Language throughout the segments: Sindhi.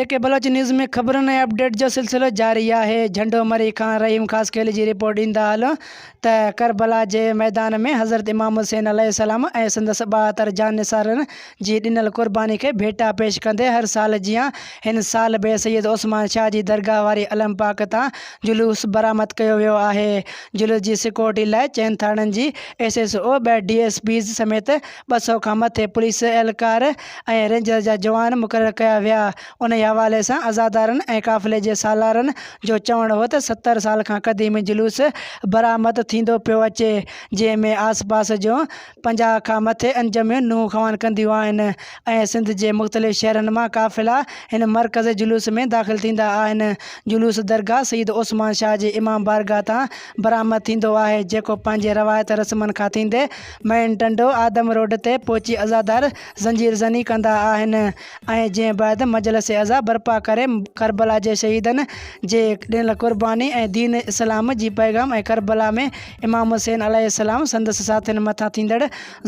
اي ڪي بلوچ نيوز ۾ خبرن ۽ اپڊيٽ جو سلسلو جاري آهي جهنڊو مري کان رحيم خاصخيلي جي رپورٽ ڏيندا هلون ته ڪربلا جي ميدان ۾ حضرت امام حسين عليه السلام ۽ سندس ٻاهتر جان نثارن جي ڏنل قرباني کي ڀيٽا پيش ڪندي هر سال جيان هن سال به سيد عثمان شاهه جي درگاهه واري علم پاڪ تان جلوس برآمد ڪيو ويو آهي جلوس جي سڪيورٽي لاء چئن ٿاڻن جي ايس ايس او ٻه ڊي ايس پيز سميت ٻه سؤ کان مٿي پوليس اهلڪار ۽ رينجرز جا جوان مقرر ڪيا ويا. انهيء حوالي سان عزادارن ۽ قافلي جي سالارن جو چوڻ هو ته ستر سال کان قديم جلوس برآمد ٿيندو پيو اچي، جنهن ۾ آس پاس جون پنجاهه کان مٿي انجميون نونهن خوان ڪنديون آهن ۽ سنڌ جي مختلف شهرن مان قافلا هن مرڪزي جلوس ۾ داخل ٿيندا آهن. جلوس درگاهه سيد عثمان شاهه جي امام بارگاهه تان برآمد ٿيندو آهي جيڪو پنهنجي روايت رسمن کان ٿيندي مئن ٽنڊو آدم روڊ تي پهچي عزادار زنجير زني ڪندا آهن ۽ جنهن بعد مجلس عزا برپا ڪري ڪربلا جي شهيدن جي ڏنل قرباني ۽ دين اسلام جي پيغام ۽ ڪربلا ۾ امام حسين عليه السلام سندس ساٿين مٿان ٿيندڙ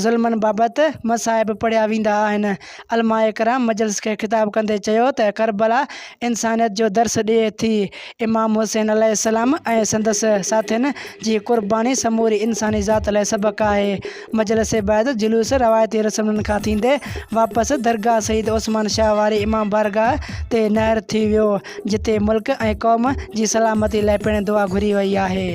ظلمن بابت مصائب پڙهيا ويندا آهن علماء ڪرام مجلس کي خطاب ڪندي چيو ته ڪربلا انسانيت جو درس ڏئي ٿي، امام حسين عليه السلام ۽ سندس ساٿين جي قرباني سموري انساني ذات لاء سبق آهي. مجلس بعد جلوس روايتي رسمن کان ٿيندي واپس درگاهه سيد عثمان شاهه واري امام بارگاهه تي نهر ٿي ويو، جتي ملڪ ۽ قوم جي سلامتي لاء پڻ دعا گهري وئي آهي.